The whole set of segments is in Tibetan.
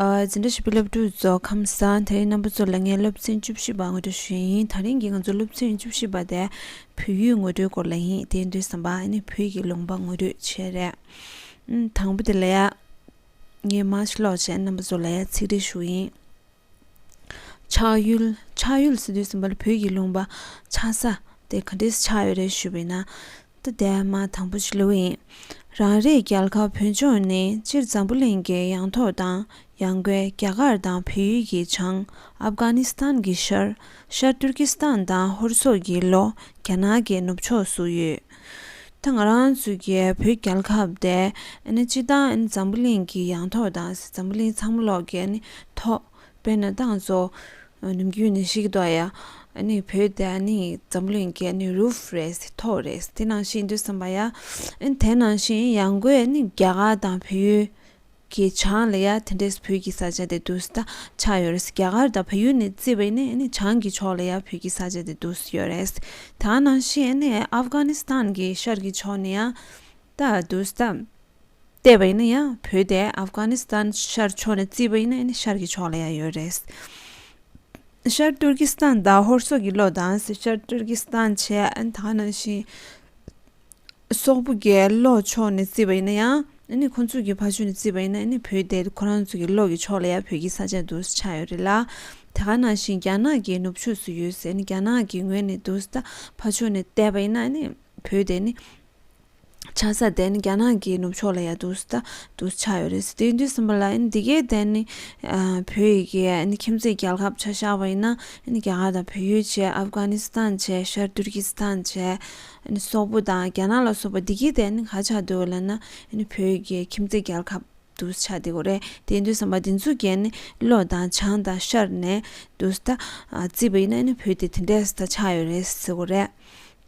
འཛིན་གྲྭ་ཞིབ་ཕྲའི་སློབ་ཕྲུག་རྫོགས་ཁམས་ས་ཐེ་རིང་རྣམ་པ་ཚོ་ལ་ངས་སློབ་ཚན་བཅུ་བཞི་པ་ངོ་སྤྲོད་ཞུ་ཡི་ཡིན་ད་རིང་གི་ང་ཚོ་སློབ་ཚན་བཅུ་བཞི་པ་དེ་བོད་ཡིག་ངོ་སྤྲོད་སྐོར་ལ་ཡིན་དེ་འདྲའི་བསམ་པ་ནི་བོད་ཀྱི་ལུང་པ་ངོ་སྤྲོད་བྱེད་རེད་དང་པོ་དེ་ལ་ཡ་ངས་མཱ་ཤི་ཀློག་བྱེད་རྣམ་པ་ཚོ་ལ་ཡ་ཚིག་འགྲེལ་ཞུ་ཡིན། ཆགས་ཡུལ། ཆགས་ཡུལ་སི་ཏུའི་སྲིན་བལ་བོད་ཀྱི་ལུང་པ། ཆགས་ས། དེ་ག་དུས་སུ་ཆགས་ཡོད་རེད་ཞུས་པའི་ནང་དུ་དེ་མ་དང་པོ་ཞིག་ལོས་ཡིན། རང་རེའི་རྒྱལ་ཁབ་བོད་ལྗོངས་ནི་སྤྱིར་འཛམ་བུ་གླིང་གི་ཡང་ཐོག་དང་ཡང་སྒོའི་རྒྱ་གར་དང་བལ་ཡུལ་གྱི་བྱང། ཨབ་གྷ་ནི་སི་ཐན་གྱི་ཤར། ཤར་ཏུར་ཀི་སི་ཐན་དང་ཧོར་སོག་གི་ལོག་རྒྱ་ནག་གི་ནུབ་ཕྱོགས་སུ་ཡོད། ད་ང་རང་ཚོའི་གི་བོད་རྒྱལ་ཁབ་དེ་སྤྱི་བཏང་འཛམ་བུ་གླིང་གི་ཡང་ཐོག་དང་འཛམ་བུ་གླིང་ཚང་མ་ལོག་གི་ཐོག་དཔེར་ན་ཏང་ཙུའུ་ནུབ་རྒྱུད་ནས་ཤིག་ཏོག་ཡ་བོད་དེ་འཛམ་བུ་གླིང་གི་རུབ་རེད་ཐོག་རེད་དེ་ནང་བཞིན་འདུག་བསམ་པ་ཡ་དེ་ནང་བཞིན་ཡང་སྒོས་རྒྱ་གར་དང་བོད་ཡུལ་གི་ཆང་ལ་ཡང་དེ་འདྲས་བོད་ཀྱི་ས་ཆ་དེ་འདུ་ས་ཆགས་ཡོད་རེད་རྒྱ་གར་དང་བལ་ཡུལ་ནས་བརྩི་བས་ནི་ཆང་གི་ཕྱོགས་ལ་ཡང་བོད་ཀྱི་ས་ཆ་དེ་འདུ་ས་ཡོད་རེད་ད་ནང་བཞིན་ནི་ཨབ་གྷ་ནི་སྟན་གྱི་ཤར་གྱི་ཕྱོགས་ནས་ཡང་ད་འདུ་ས་ལྟ་བས་ནི་ཡང་བོད་དེ་ཨབ་གྷ་ནི་སྟན་ཤར་ཕྱོགས་ནས་བརྩི་བས་ནི་ཤར་གྱི་ཕྱོགས་ལ་ཡང་ཡོད་རེད། ཤར་ཏུར་ཀི་སྟན་དང་ཧོར་སོག་གི་ལོ་དང་ཤར་ཏུར་ཀི་སྟན་བྱས་ད་ནང་བཞིན། སོག་པོ་རྒྱལ་ལོ་ཕྱོགས་ནས་བརྩིས་པ་ཡིན་ན་ཡང་ཁོ་ཚོ་གི་ཕ་ཆོས་ནས་བརྩིས་པ་ཡིན་ན་བོད་དེ་ཁོ་རང་ཚོ་གི་བློ་གི་ཕྱོགས་ལ་ཡང་བོད་ཀྱི་ས་ཆ་དུ་ཆགས་ཡོད་རེད་ལ། དེ་ག་ནང་བཞིན་རྒྱ་ནག་གི་ནུབ་ཕྱོགས་སུ་ཡོད་ཟེར་ནས་རྒྱ་ནག་གི་ངོས་ནས་དུ་ས་ཕ་ཆོས་ནས་བལྟས་པ་ཡིན་ན་བོད་དེ་ནི་ཆགས་ས་དེ་རྒྱ་ནག་གི་ནུབ་ཕྱོགས་ལ་ཡང་དུ་ས་དུ་ཆགས་ཡོད་རེད་དེ་དུས་གསུམ་པ་ལ་འདི་གའི་དེ་ནི་བོད་ཡི་གེ་ཁྱིམ་མཚེས་རྒྱལ་ཁབ་ཆགས་ཤར་བ་ཡིན་ན་རྒྱ་གར་དང་བོད་ཡུལ་བྱས་ཨབ་གྷ་ནི་སི་ཐན་བྱས་ཤར་ཏུར་ཀི་སི་ཐན་བྱས་སོག་པོ་དང་རྒྱ་ནག་ལ་སོགས་པ་འདི་གི་ཐད་ནི་ག་ཆགས་འདུག་ལ་ན་བོད་ཀྱི་ཁྱིམ་མཚེས་རྒྱལ་ཁབ་ཏུ་ཆགས་འདི་གོ་རེད་དེ་འདུག་བསམ་པ་འདི་ཚོ་གས་ནི་བློ་དང་བྱང་དང་ཤར་ནས་འདུག་ད་རྩིས་པ་ཡིན་ན་བོད་དེ་དེ་འདྲས་ད་ཆགས་ཡོད་རེད་ཟེར་གོ་རེད་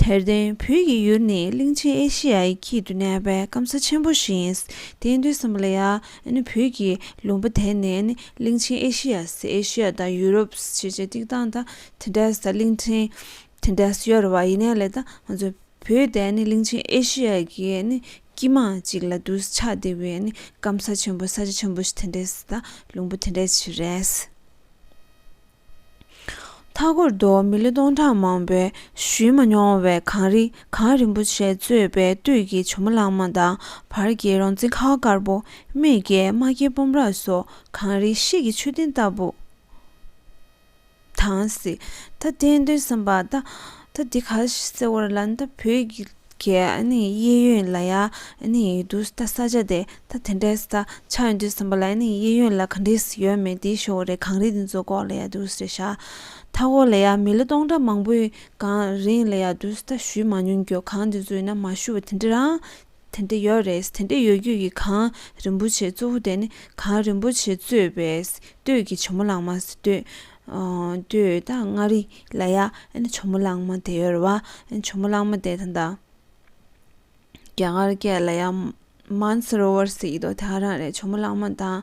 དེར་བརྟེན་བོད་ཀྱི་ཡུལ་ནི་གླིང་ཆེན་ཨེ་ཤེ་ཡའི་དཀྱིལ་དུ་གནས་པའི་སྐམ་ས་ཆེན་པོ་ཞིག་ཡིན་དེ་འདུག་བསམ་པ་ལ་ཡ་ནི་བོད་ཀྱི་ལུང་པ་དེ་ནི་གླིང་ཆེན་ཨེ་ཤེ་ཡ་ཨེ་ཤེ་ཡ་དང་ཡུ་རོབ་ཅེས་ཅེས་སྟེགས་སྟངས་ད་དེ་འདྲས་ད་གླིང་ཕྲན། དེ་འདྲ་ཞུ་ཡར་བ་ཡིན་ན་ལེ་དང་ང་ཚོ་བོད་དེ་ནི་གླིང་ཆེན་ཨེ་ཤི་ཡ་གི་ནི་སྐྱིད་མང་ཅིག་ལ་འདུ་ཆ་དེ་བས་ནི་སྐམ་ས་ཆེན་པོ་ས་ཆ་ཆེན་པོ་ཞིག་དེ་འདྲས་དང་ལུང་པ་དེ་འདྲས་ཞིག་རེད། མཐའ་འཁོར་དུ་མི་ལོ་སྟོང་ཕྲག་མང་པོའི་བཞུད་མ་མྱོང་བའི་གངས་རི་གངས་རིན་པོ་ཆེ་གཙོས་པའི་སྟོད་ཀྱི་བྱུ་མོ་གླང་མ་དང་བར་གྱི་རོང་ཙེ་ཁ་བ་དཀར་པོ་སྨད་ཀྱི་རྨ་ཁའི་སྤོམ་ར་སོགས་གངས་རིའི་གཤིས་ཀྱི་མཆོད་རྟེན་ལྟ་བུ། དང། ད་ལྟའི་དོན་བསམ་པ། ད་འདི་ག་ཟེར་བ་ལ་ད་བོད་ཀྱི་གཡས་གཡོན་ལ་ཡང་ཡོད་འདུག་ད་ས་ཆ་དེ་ད་དེ་འདྲའི་ས་ཆ་ཡོད་འདུག་བསམ་པ་ལ་གཡས་གཡོན་ལ་ག་འདྲའི་ས་ཡོད་མེད་དེ་ཤོད་རེད་གངས་རི་འདི་ཚོ་ལྐོག་ལ་ཡག་འདུག་ཟེར་ཤག་མཐའ་སྐོར་ལ་ཡང་མི་ལོ་སྟོང་ཕྲག་མང་པོའི་གངས་རིའི་ལ་ཡག་འདུག་ད་ཞུས་མ་མྱོང་གྱོ་གངས་འདི་ཚོ་ཡིན་ན་མ་ཞུ་བ་དེ་འདྲ་རང་དེ་འདི་ཡོད་རེད་དེ་འདི་ཡོད་རྒྱུ་ཡི་གང་རིན་པོ་ཆེ་གཙོ་བོ་དེ་ནི་གང་རིན་པོ་ཆེ་གཙོས་པའི་སྟོད་ཀྱི་བྱོ་མོ་གླང་མ་སྟོད་ད་མངའ་རི་ལ་ཡ་ཨན་བྱོ་མོ་གླང་མ་དེ་ཡོད་རེད་བ་ཨན་བྱོ་མོ་གླང་མ་དེ་ད་རྒྱ་གར་སྐད་ལ་ཡ་མཱན་སི་རོ་ཝར་སི་ཡི་དོ་དེ་ཧ་རང་རེད་བྱོ་མོ་གླང་མ་དང་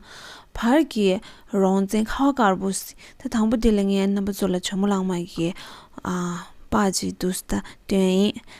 བར་གྱི་རོང་བཙན་ཁ་བ་དཀར་པོ་ད་དང་པོ་དེ་ལ་ངའི་རྣམ་པ་ཚོ་ལ་བྱོ་མོ་གླང་མ་གི་ཨ་ཕ་ཅིག་འདུག་ད་དོན་ཨིན།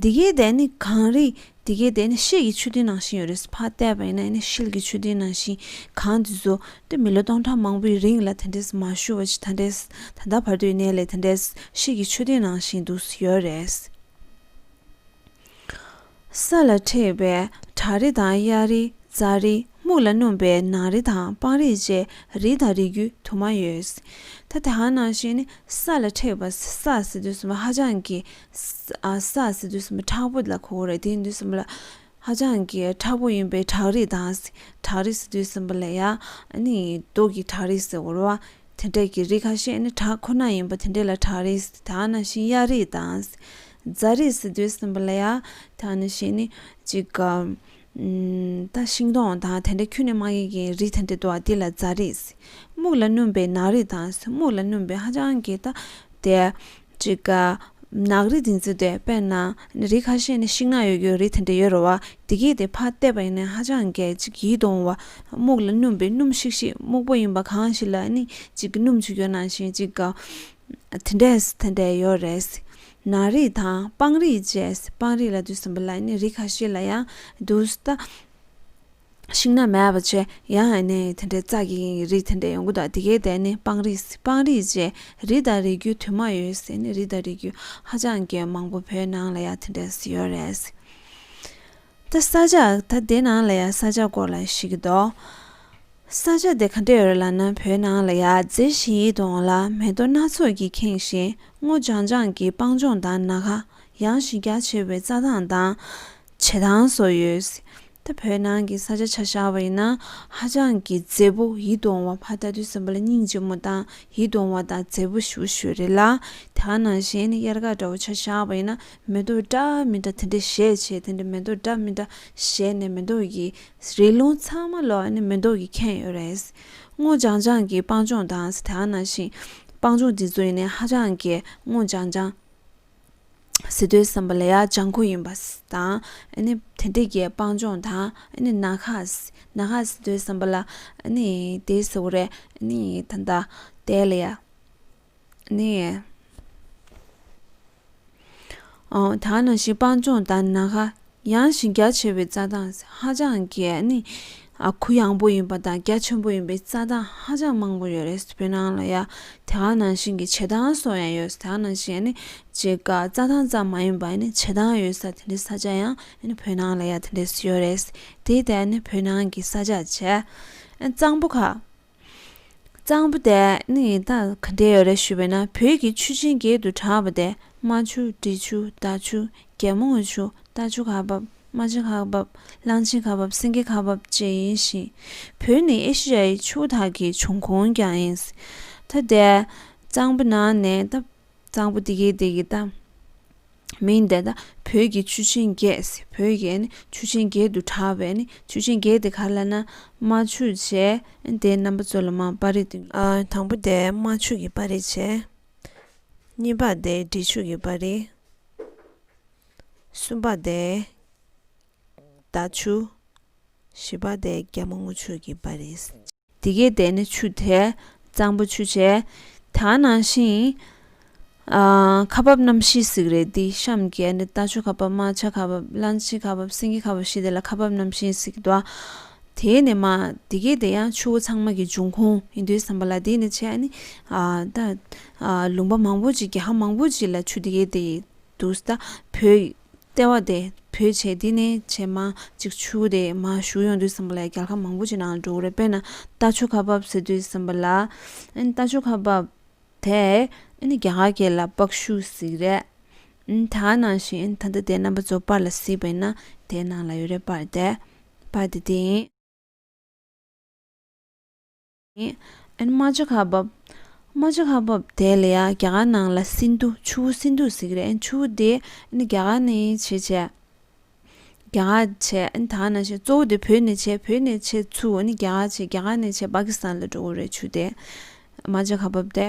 འདི་གའི་དེ་ནི་གངས་རི་འདི་གའི་དེ་ནི་ཤེལ་གྱི་མཆོད་རྟེན་ནང་བཞིན་ཡོད་རེད་ཕར་བལྟས་པ་ཡིན་ན་ནི་ཤེལ་གྱི་མཆོད་རྟེན་ནང་བཞིན་གངས་འདི་ཚོ་དེ་མི་ལོ་སྟོང་ཕྲག་མང་པོའི་རིང་ལ་དེ་འདྲས་མ་ཞུ་བ་ཅིག་ད་འདྲས་ད་ལྟ་བར་དུ་གནས་ལས་དེ་འདྲས་ཤེལ་གྱི་མཆོད་རྟེན་ནང་བཞིན་འདུག་ཡོད་རེད། ས་ལ་མཁྲེགས་པའི་བྲག་རི་དང་གཡའ་རི་རྩ་རི་སྨུག་ལ་སྣུམ་པའི་ནགས་རི་དང་སྤང་རི་བཅས་རི་དང་རི་རྒྱུད་དུ་མ་ཡོད། ད་དེ་ཧང་ནང་བཞིན་ས་ལ་མཁྲེགས་པ་ས་ཟེར་དུས་སུ་ཧ་ཅང་གི་ས་ཟེར་དུས་སུ་ཁྲག་པོ་ལ་གོ་རེད་དེ་དུས་སུ་ལ་ཧ་ཅང་གི་ཁྲག་པོ་ཡིན་པའི་བྲག་རི་དང་བྲག་རི་ཟེར་དུས་སུ་ལ་ཡ་ནི་རྡོ་གི་བྲག་རི་ཟེར་བར་བ་དེ་འདྲ་གི་རི་ཁ་ཤས་ནི་བྲག་ཁོ་ན་ཡིན་པ་དེ་འདྲ་ལ་བྲག་རི་ཟེར་ད་ནང་བཞིན་གཡའ་རི་དང་རྫ་རིའི་ཟི་དུལ་སྲིན་པོ་ལ་ཡ། ད་ནི་བྱས་ནི། ཅིག་ག། ད་ཤིང་སྡོང་དང་དེ་འདྲ་ཁྱུ་ནི་མ་ཡིན་གྱི་རིགས་དེ་འདྲ་འདུག་དེ་ལ་རྫ་རིའི་ཟི། སྨུག་ལ་བསྣུན་པའི་ནག་རིས་དང་ཟི་སྨུག་ལ་བསྣུན་པའི་ཧ་ཅང་གི་ད། དེ། ཅིག་ག། ནག་རིས་འདི་ཚོ་དེ་དཔེར་ན། ནི་རིགས་ཁ་ཤས་ནི་ཤིང་ནག་ཡོད་རྒྱུའི་རིགས་དེ་འདྲ་ཡོད་རེད་བ། དེ་སྐད་དེ་ཕ་བལྟས་པ་ཡིན་ནའི་ཧ་ཅང་གི་ཅིག་ཡིད་དུ་འོང་བ། སྨུག་ལ་བསྣུན་པའི་སྣུམ་ཤིག་ཤིག་སྨུག་པོ་ཡིན་པ་གང་ཞིག་ལ་ནི་ཅིག་གི་སྣུམ་ཆུ་ཡོད་ནང་བཞིན་ཅིག་ག། དེ་འདྲས་ཟི་དེ་འདྲས་ཡོད་རེད། ན་རིགས་དང་སྤང་རིགས་བཅས་སྤང་རིགས་ལ་དུས་གསུམ་པ་ལ་ནི་རིགས་ཁ་ཤས་ལ་ཡང་དུ་ལྟ། ཤིང་སྣ་མེད་པ་ཆེ་ཡང་ནི་དེ་འདྲའི་རྩ་གི་ཡིན་གྱི་རིགས་དེ་འདྲའི་ཡོང་གི་འདུག་དེ་གའི་དེ་ནི་སྤང་རིགས་སྤང་རིགས་བཅས་རིགས་དང་རིགས་རྒྱུད་དུ་མ་ཡོད་ཟེར་ནི་རིགས་དང་རིགས་རྒྱུད་ཧ་ཅང་གི་མང་པོ་བོད་ནང་ལ་ཡང་དེ་འདྲས་ཡོད་རེད། ད་ས་ཆ་ད་དེ་ནང་ལ་ཡང་ས་ཆ་སྐོར་ལ་ཤེས་ཀྱི་འདུག། ས་ཆ་དེ་ག་འདྲས་རེད་ལ་ན་བོད་ནང་ལ་ཡ་མཛེས་ཤིང་ཡིད་དུ་འོང་ལ་མེ་རྡོ་སྣ་ཚོགས་ཀྱིས་ཁེངས་ཤིང་སྔོ་ལྗང་ལྗང་གི་སྤང་ལྗོངས་དང་ན་ག་ཡང་ཞི་རྒྱ་ཆེ་བའི་རྩྭ་ཐང་དང་བྱེ་ཐང་སོགས་ཡོད། ད་བོད་ནང་གི་ས་ཆ་ཆ་བཞག་པ་ཡིན་ན་ཧ་ཅང་གི་མཛེས་པོ་ཡིད་དུ་འོང་བ་ཕ་ད་དུས་སམ་བ་ལ་སྙིང་རྗེ་མོ་དང་ཡིད་དུ་འོང་བ་དང་མཛེས་པོ་ཞུ་ཞུ་རེད་ལ་དེ་ག་ནང་བཞིན་དབྱར་དགའ་འདྲ་བོ་ཆ་བཞག་པ་ཡིན་ན་མེ་རྡོ་འདྲ་མི་འདྲ་དེ་འདྲ་བཞད་བྱས་དེ་འདྲ་མེ་རྡོ་འདྲ་མི་འདྲ་བཞད་ནས་མེ་རྡོ་ཡི་རི་ལུང་ཚང་མ་ལོག་ནི་མི་མདོག་གིས་ཁེངས་ཡོད་རེད། སྔོ་ལྗང་ལྗང་གི་སྤང་ལྗོངས་དང་སི་ཐན་ནང་བཞིན་སྤང་ལྗོངས་འདི་ཚོ་ཡིན་ནའི་ཧ་ཅང་གི་སྔོ་ལྗང་ལྗང། སི་ཏུའི་སམ་བྷ་ལ་ཡ་ལྗང་ཁུ་ཡིན་པ་དང་དེ་འདྲ་གི་སྤང་ལྗོངས་དང་ནག་ཁ་ནག་ཁ་སི་ཏུའི་སམ་བྷ་ལ་ཡིན་དེ་ཟེར་བ་རེད་ད་ལྟ་དེ་ལ་ཡ། སྤང་ལྗོངས་དང་ན་ག་ཡང་ཞིང་རྒྱ་ཆེ་བའི་རྩྭ་ཐང་ཧ་ཅང་གི་གུ་ཡངས་པོ་ཡིན་པ་དང་རྒྱ་ཆེན་པོ་ཡིན་པའི་རྩྭ་ཐང་ཧ་ཅང་མང་པོ་ཡོད་རེད་བོད་ནང་ལ་ཡང་དེ་ག་ནང་བཞིན་གྱི་བྱེ་ཐང་སོགས་ཡང་ཡོད་ད་ག་ནང་བཞིན་ནི་བྱེ་ཀ་རྩྭ་ཐང་ཙམ་མ་ཡིན་པ་ནི་བྱེ་ཐང་ཡོད་ས་དེ་འདྲའི་ས་ཆ་ཡང་བོད་ནང་ལ་ཡང་དེ་འདྲས་སུ་ཡོད་རེད་དེའི་ཐད་ནས་བོད་ནང་གི་ས་ཆ་ཆེས་གཙང་པོ་ཁག་གཙང་པོ་དེ་ནི་ཡི་དྭགས་ག་འདྲས་ཡོད་རེད་ཞུས་པས་ན་བོད་ཀྱི་ཆུ་ཆེན་བརྒྱད་དུ་གྲགས་པ་དེ་རྨ་ཆུ་འབྲི་ཆུ་རྡ་ཆུ་རྒྱལ་མོ་སྔོན་ཆུ་རྟ་ཆུ་ཁ་འབབ་རྨ་བྱ་ཁ་འབབ་གླང་ཆེན་ཁ་འབབ་སེང་གེ་ཁ་འབབ་བཅས་ཡིན་ཞིང། བོད་ནི་ཨེ་ཤི་ཡའི་ཆུ་བོ་དག་གི་འབྱུང་ཁུངས་ཀྱང་ཡིན། ད་ལྟའི་གཙང་པོ་ནང་ནས་གཙང་པོ་དེ་གའི་དེ་གའི་གཏམ། མིང་འདི་དག་བོད་ཀྱི་ཆུ་ཆེན་བརྒྱད་བོད་ཀྱི་ཆུ་ཆེན་བརྒྱད་དུ་གྲགས་པས་ནི་ཆུ་ཆེན་བརྒྱད་དེ་ག་ལ་ན་རྨ་ཆུ་བྱས། དེའི་རྣམ་པ་གཙོ་ལ་རྨ་དཔའ་རིས་ཏེ། དང་པོ་དེ་རྨ་ཆུ་གི་དཔའ་རིས་བྱས། གཉིས་པ་དེ་འབྲི་ཆུ་གི་དཔའ་རིས། གསུམ་པ་དེ་རྡ་ཆུ། བཞི་པ་དེ་རྒྱ་མ་སྔོ་ཆུ་གི་དཔའ་རིས། དེ་སྐད་བཟླས་ནས་ཆུ་དེ་གཙང་པོ་ཆུ་བྱས། དག་ནང་ཤིང། ཁ་འབབ་རྣམ་བཞི་གཟིགས་རེ་འདི་བཤམས་བརྒྱད། རྟ་མཆོག་ཁ་འབབ་རྨ་བྱ་ཁ་འབབ་གླང་མཆིལ་ཁ་འབབ་སེང་གེ་ཁ་འབབ་བཞི་དེ་ལ་ཁ་འབབ་རྣམ་བཞི་གཟིགས། དེས་ནས་མ། དེ་སྐད་བཟླས་ཡང་ཆུ་བོ་ཚང་མ་གི་འབྱུང་ཁུངས་ཡིན་དུས་བསམ་པ་ལ་དེས་ནས་བྱས། ལུང་པ་མང་པོ་ཅིག་རྒྱ་ཧ་མང་པོ་ཅིག་ལ་ཆུ་དེ་སྐད་བཟླས་ཡོད་དུས། བོད། ལྟེ་བ་དེ་བོད་བྱེས་འདི་ནས་བྱེས་མ་གཅིག་ཆུ་བོ་དེ་མ་བཞུར་ཡོང་དུས་བསམ་པ་ལ་རྒྱལ་ཁ་མང་པོ་ཅིག་ནང་འགྲོ་གི་རེད་དཔེར་ན་རྟ་མཆོད་ཁ་འབབ་ཟེར་དུས་བསམ་པ་ལ་རྟ་མཆོད་ཁ་འབབ་དེ་རྒྱ་གར་གྱི་ལ་སྤགས་ཤུག་ཟིག་རེད་ད་ནང་བཞིན་ད་ལྟ་དེ་རྣམ་པ་ཚོ་པར་ལ་གཟིགས་པ་ཡིན་ན་དེ་ནང་ལ་ཡོད་རེད་པར་དེ་པར་དེ་དེ་ཡིན། ཨན་རྨ་བྱ་ཁ་འབབ། རྨ་བྱ་ཁ་འབབ་དེ་ལ་ཡང་རྒྱ་གར་ནང་ལ་སིནྡྷུ་ཆུ་བོ་སིནྡྷུ་ཟེར་གི་རེད་ཨན་ཆུ་བོ་དེ་ཨན་རྒྱ་གར་ནས་བྱེད་བྱས། རྒྱ་གར་བྱས་ཨན་ད་ནང་བྱས་གཙོ་བོ་དེ་བོད་ནས་བྱས་བོད་ནས་བྱས་ཆུ་ཨན་རྒྱ་གར་བྱས་རྒྱ་གར་ནས་བྱས་པཱ་ཀི་སི་ཐན་ལ་འགྲོ་གི་རེད་ཆུ་དེ་རྨ་བྱ་ཁ་འབབ་དེ།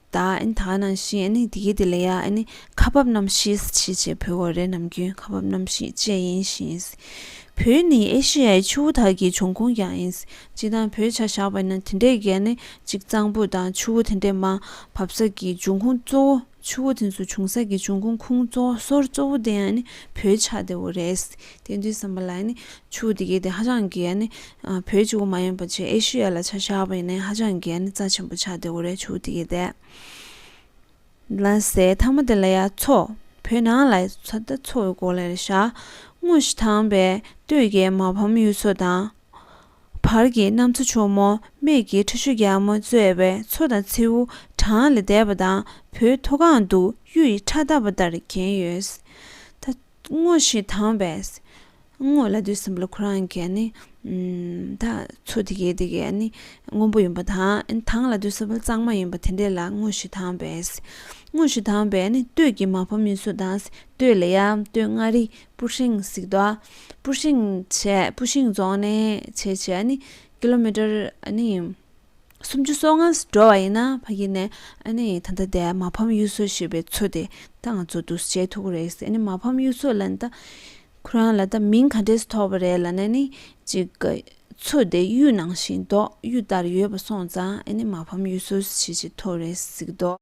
ད་ཨཱ་ད་ནང་བཞིན་ཨཱ་ནི་དེའི་དེ་ལ་ཡ་ཨཱ་ནི་ཁ་འབབ་རྣམ་ཤེས་ཞེས་བྱའི་བུ་གོ་རེ་ནམ་རྒྱུན་ཁ་འབབ་རྣམ་ཤེས་བཅས་ཡིན་ཞིང། བུ་ནི་ཨེ་ཤེ་ཡའི་ཆུ་བོ་དག་གི་འབྱུང་ཁུངས་ཀྱང་ཡིན། སྤྱི་དང་བོའི་ཆ་བཞག་པ་ན་དེ་འདྲའི་གལ་ནི་གཅིག་གཙང་པོ་དང་ཆུ་བོ་དེ་འདྲའི་མ་བབ་ས་ཀྱི་འབྱུང་ཁུངས་གཙོ་བོ་ཆུ་བོ་དེ་ཚོ་བྱུང་ས་ཀྱི་འབྱུང་ཁུངས་ཁུངས་གཙོ་སོར་གཙོ་བོ་དེ་ཡང་ནི་བོའི་ཆ་དེ་བོ་རེད། དེ་དུས་བསམ་པ་ལ་ཡང་ནི་ཆུ་དེ་གའི་དེ་ཧ་ཅང་གི་ཡང་ནི་བོད་ཀྱི་དབུ་མ་ཡིན་པ་ཆེ་ཨེ་ཤི་ཡ་ལ་ཆ་བཞག་པ་ཡིན་ནའི་ཧ་ཅང་གི་ཡང་ནི་རྩ་ཆེན་པོ་ཆགས་དེ་འོ་རེད་ཆུ་དེ་གའི་དེ་ལ་ཟེར་མཐའ་མ་དེ་ལ་ཡང་མཚོ་བོད་ནང་ལ་ཚོ་ད་མཚོ་བོད་སྐོར་ལ་ཡང་བཞག་དངོས་གཞི་དྭངས་པའི་སྟོད་ཀྱི་མ་ཕམ་ཡུལ་ཚོ་དང། བར་གྱི་གནམ་མཚོ་ཕྱུག་མོ་སྨད་ཀྱི་ཁྲི་ཤོ་རྒྱ་མོ་གཙོས་པའི་མཚོ་དང་མཚེའུ་གྲངས་ལས་འདས་པ་དང་བོད་མཐོ་སྒང་དུ་གཡུ་ཡི་ཁྲ་ལྟ་བ་ལྟར་གྱེན་ཡོད། ད་དངོས་གཞི་དྭངས་པས་དངོས་ལ་དུས་གསུམ་ལ་ཁོ་རང་གི་ནི་ད་ཚུལ་དེ་གའི་དེ་གའི་ནི་དངོས་པོ་ཡིན་པ་དང་དྭངས་ལ་དུས་གསུམ་ལ་གཙང་མ་ཡིན་པ་དེ་འདྲ་ལ་དངོས་གཞི་དྭངས་པས། དངོས་གཞི་དྭངས་པས་ནི་སྟོད་ཀྱི་མ་ཕམ་མིན་སོ་དང་སྟོད་ལ་ཡང་སྟོད་མངའ་རིས་སྤུ་ཧྲེང་གཟིགས་རྡོ་སྤུ་ཧྲེང་བྱས་སྤུ་ཧྲེང་རྫོང་ནས་བྱས་བྱས་ནི་ཀི་ལོ་མི་ཀྲར་ནི། སུམ་ཅུ་སོ་ལྔ་འགྲོ་བ་ཡིན་ན་ཕ་གིས་ནས་ཨ་ནི་ད་ལྟ་དེ་མ་ཕམ་གཡུ་མཚོ་ཞེས་པའི་མཚོ་དེ་ད་ང་ཚོ་འདུག་བྱེད་ཐུག་གི་རེད་ཟེར་ནས་མ་ཕམ་གཡུ་མཚོ་ལ་ད་ཁོ་རང་ལ་ད་མིང་ག་འདྲས་སུ་ཐོགས་པ་རེད་ལ་ན་ནི་ཅིག་གི་མཚོ་དེ་གཡུ་ནང་བཞིན་མདོག་གཡུ་ལྟར་ཡོད་པ་སོང་ཙང་ཨ་ནི་མ་ཕམ་གཡུ་མཚོ་ཞེས་བྱེད་ཐུག་རེད་ཟེར་གི་འདུག།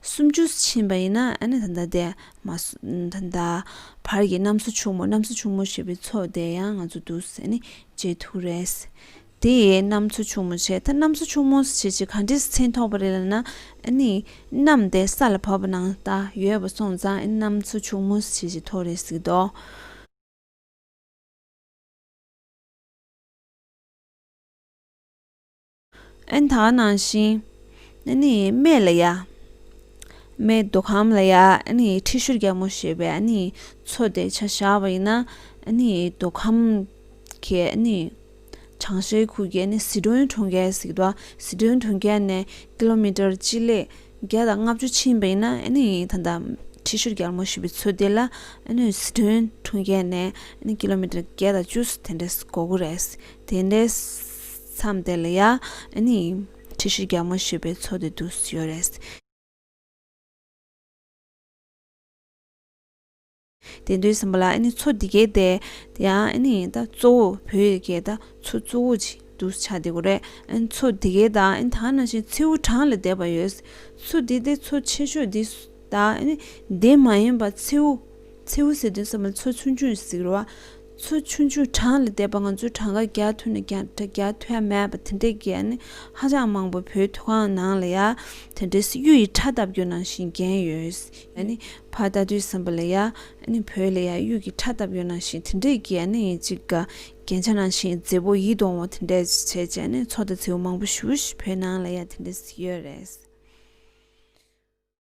སུམ་ཅུ་ཕྱིན་པ་ཡིན་ན་ད་ལྟ་དེ་མ་ད་ལྟ་བར་གྱི་གནམ་སོ་ཕྱུག་མོ་གནམ་སོ་ཕྱུག་མོ་ཞེས་པའི་ཚོགས་དེ་ཡང་ང་ཚོ་འདུག་ཟེར་ནས་བརྗེད་ཐུག་རེད། དེ་ཡིས་གནམ་སོ་ཕྱུག་མོ་བྱས་ད་གནམ་སོ་ཕྱུག་མོ་བྱས་ཅི་ག་འདྲའི་མཚན་ཐོགས་པ་རེད་ལ་ན་གནམ་དེ་ས་ལ་བབས་པ་ན་ད་ཡོད་པ་སོང་ཙང་གནམ་སོ་ཕྱུག་མོ་བྱས་ཅི་ཐོགས་རེད་ཟེར་གི་འདུག། ཨན་ད་ནང་བཞིན་ཨན་ནི་སྨད་ལ་ཡ། སྨད་མདོ་ཁམས་ལ་ཡ་ཨན་ནི་ཁྲི་ཤུར་རྒྱལ་མོ་ཞེས་པའི་ཨན་ནི་མཚོ་དེ་ཆ་བཞག་པ་ཡིན་ན་ཨན་ནི་མདོ་ཁམས་ཀྱི་ཨན་ནི་བྱང་ཤར་ཁུལ་གྱི་ཨན་ནི་ཟི་ཁྲོན་གྲོང་ཁྱེར་ཟིག་རྡོ་ཟི་ཁྲོན་གྲོང་ཁྱེར་ནས་ཀི་ལོ་མི་ཀྲར་སྤྱི་ལེ་བརྒྱ་དང་ལྔ་བཅུ་ཕྱིན་པ་ཡིན་ན་ཨན་ནི་ད་ལྟ་ཁྲི་ཤུར་རྒྱལ་མོ་ཞེས་པའི་མཚོ་དེ་ལ་ཨན་ནི་ཟི་ཁྲོན་གྲོང་ཁྱེར་ནས་ཨན་ནི་ཀི་ལོ་མི་ཀྲར་བརྒྱད་དང་བཅུ་སོ་དེ་འདྲའི་གོ་དགོས་རེད། དེ་འདྲའི། མཚམས་དེ་ལ་ཡང་ཁྲི་ཤེས་རྒྱགས་མ་ཞུས་པའི་ཚོ་དེ་འདུག་སྲིད་ཡོད་རེད། དེ་འདུག་ཟིན་པ་ལ་ཚོ་འདི་གས་དེ་ཡང་ད་གཙོ་བོ་བོད་ཡི་གེ་ད་ཚོ་གཙོ་བོ་ཅིག་འདུག་ཆ་དེ་གོ་རེད། ཚོ་འདི་གས་དང་ད་ནང་བཞིན་མཚེའུ་གྲངས་ལ་བསྡད་པ་ཡོད། ཚོ་འདི་དེ་ཚོ་ཆེ་ཤོས་འདི་ད་འདི་མ་ཡིན་པ་མཚེའུ་མཚེའུ་ཟེར་དོན་ཟབ་མོ་ཚོ་ཆུང་ཆུང་ཟིག་རེད་བ། ཚོ་ཆུང་ཆུང་གྲངས་ལས་འདས་པ་ང་ཚོའི་གྲངས་ཀ་རྒྱ་མཐུད་ནས་རྒྱ་མཐུད་ཡ་མེད་པ་དེ་འདྲའི་འགན་ནི་ཧ་ཅང་མང་པོ་བོད་མཐོ་སྒང་ནང་ལ་ཡ་དེ་འདྲའི་སྲིད་ཇུས་ཡི་ཁྲ་ལྟ་བུ་ནང་བཞིན་འགན་ཡོད་ཡ་ནི་ཕ་ལྟ་དུས་སམ་པ་ལ་ཡ་ནི་བོད་ལ་ཡ་གཡུག་གི་ཁྲ་ལྟ་བུ་ནང་བཞིན་དེ་འདྲའི་འགན་ནི་ཡིན་ཅིག་རྒྱན་ཆ་ནང་བཞིན་རྫི་བོ་ཡིད་འོང་བ་དེ་འདྲ་བྱེད་བྱས་ནི་ཚོ་དང་རྫི་བོ་མང་པོ་ཞུ་བོད་ནང་ལ་ཡ་དེ་འདྲ་སྲིད་ཡོད་རེད།